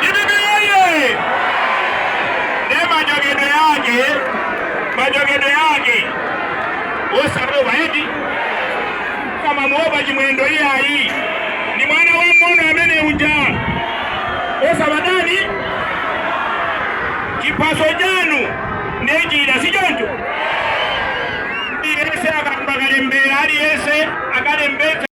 Dpp woyee! Ndiye majokedwe ake, majokedwe ake osawopa eti akamamuopa chimwendo iyayi ndi mwana wamuona amene uja osabatani chiphaso chanu ndiye chida sichoncho aliyense akakalembe aliyense akalembetse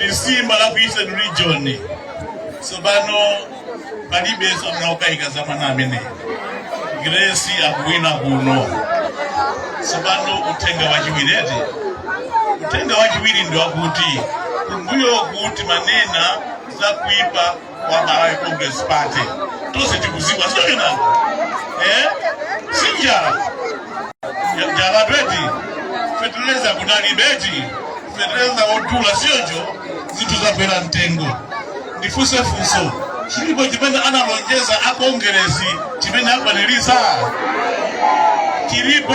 lisimba la ku eastern region tsopano palibenso amene akukayika za mwana amene grace akuwina kuno tsopano uthenga wachiwireti uthenga wachiwiri ndi wakuti kumbuyoku timanena za kuipa wa malawi congress party tonse tikuziwa zoona eh? sinjala njala eti feteleza kunalibe eti feteleza wodula sichoncho zinthu zakwera mtengo ndifunse funso chilipo chimene analonjeza a kongeresi chimene akwanirisa chilipo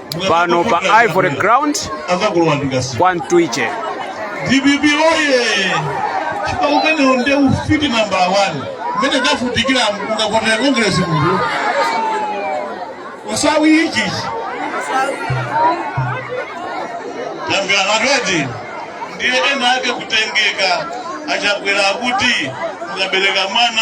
pano pa ivory ground azakulowa ndikasi kwa mtwiche dpp oye chipani umenewo nde ufiti namba 1 mmene tavutikira ungavotere kongresi kunena usawi ichichi tambira matweti ndiye ena ake kutengeka achakwera akuti mukabereka mwana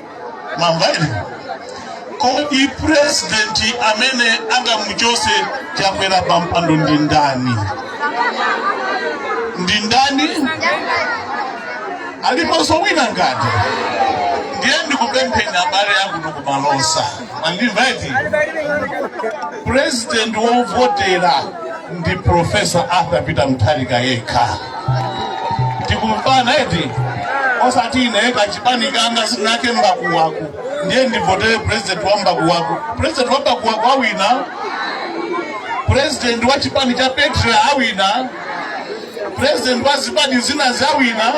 mwamva inu kodi purezidenti amene angamuchose chakwera pa mpando ndi ndani ndi ndani aliponso wina ngati ndiye ndikupempheni abale akuno ku Malosa mwandimva eti purezidenti wovotera ndi profesa arthur peter mutharika yekha tikumvana eti osati ine kachipani kanga sitinake mbakuwaku ndiye ndivotere president wa mbakuwaku president wa mbakuwaku awina president wa chipani cha petra awina president wa zipani zina zawina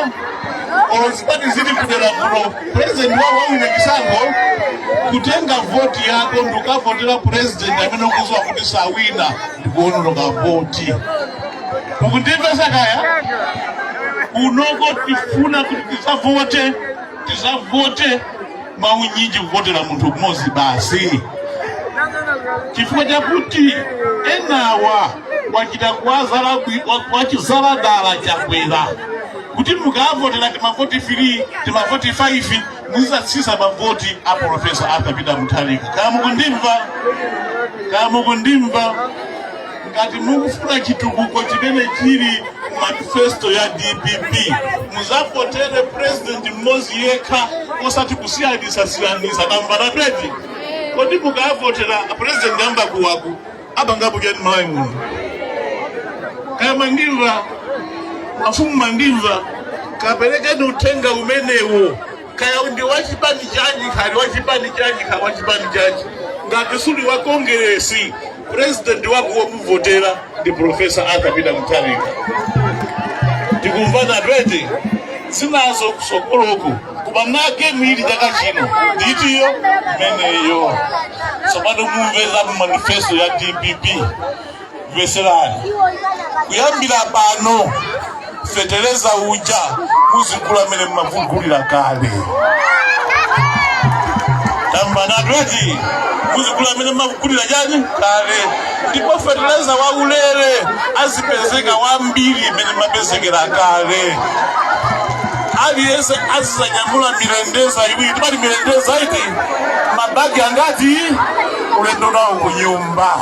olo zipani zili kudera kuno president wa wawina chisankho kutenga voti yako ndikavotera president amene ukuziwa kuti sawina ndikuononga voti mukundimvesa kaya kunoko tifuna kuti tizavote tizavote mwaunyinji kuvotera munthu mmodzi basi chifukwa chakuti enawa wachita kuwazala wachita dala chakwera kuti mukavotera timavoti 3 timavoti 5 muzizatsisa mavoti a profesa arthur peter mutharika kaya mukundimva kaya mukundimva ngati mukufuna chitukuko chimene chili manifesto ya dpp muzavotere president mmodzi yekha osati kusiyanisa-siyanisa tamvanatu eti kodi mukavotera president a mbakuwaku apangapo chani malawi muno kaya mandimva mafumu mandimva kaperekeni uthenga umenewo Kaya undi wachipani chanji kaya uli wachipani chanji kaya uli wachipani chanji ngati suli wa kongeresi president wako womuvotera ndi profesa arthur peter mutharika tikumvanatu eti zinazo kusokoloku koma make mwili chaka chino nditiyo imeneyo tsopano mumve za mu manifesto ya dpp mveserani kuyambira pano fetereza uja muzigula mmene mmamugulira kale tamvanatu eti muzigula mmene mmamugulira chani kale ndipo fetereza wa ulere azipezeka wambiri mmene amapezekera kale aliyense azizanyamula mirendeza iwiri timati mirendeza iti mabagi angati ulendo nawo kunyumba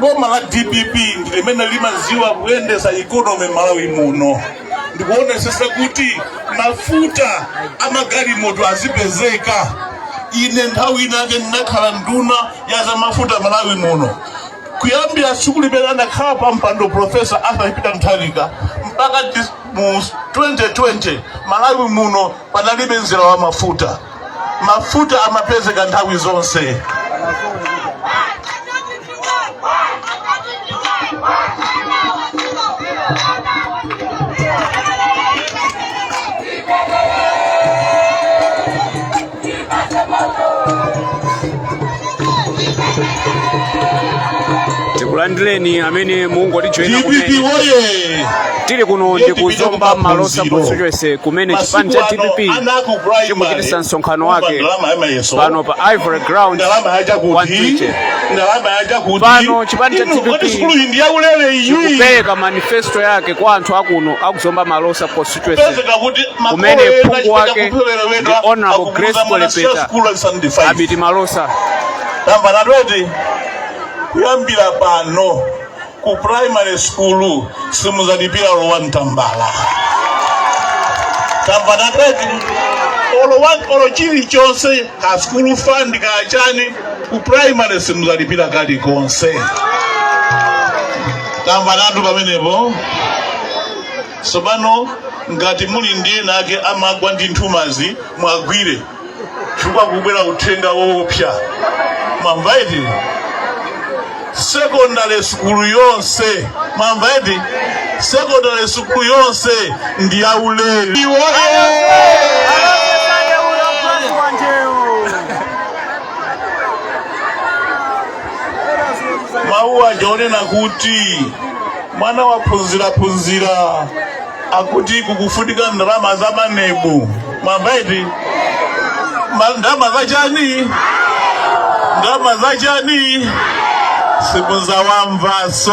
boma la dpp ndi limene limaziwa kuyendesa ikonomi malawi muno ndikuonesesa kuti mafuta amagalimoto azipezeka ine nthawi inake ndinakhala nduna ya za mafuta malawi muno kuyambira tsiku limene anakhala pa mpando profesa arthur peter mutharika mpaka dis- mu 2020 malawi muno panalibe mzere wa mafuta mafuta amapezeka nthawi zonse tikulandireni amene mungotijoyina kumene dpp woye tili kuno ndi ku zomba malosa constituency kumene chipani cha dpp chikuchitisa msonkhano wake pano pa ivory ground wantiche pano chipani cha dpp chikupereka manifesto yake kwa anthu akuno akuzomba malosa constituency constituency kumene phungu wake ndi honorable grace kwelepeta abiti malosa tamvanatu eti kuyambira pano ku primary school simuzalipira olo one tambala tamvanatu eti olowa olo chilichonse ka school fund kachani ku primary simuzalipira kalikonse tamvanatu pamenepo Tsopano ngati muli ndi ena ake amagwa ndi nthumazi, muwagwire chifukwa kubwera uthenga woopsa. Mwamva eti? Sekondale sukulu yonse, mwamva eti? Sekondale sukulu yonse ndi yaulere. mawu aja onena kuti mwana waphunziraphunzira akuti kukufunika ndalama za manebu mwamva eti Ma- ndalama za chani ndalama za chani simudzawamvanso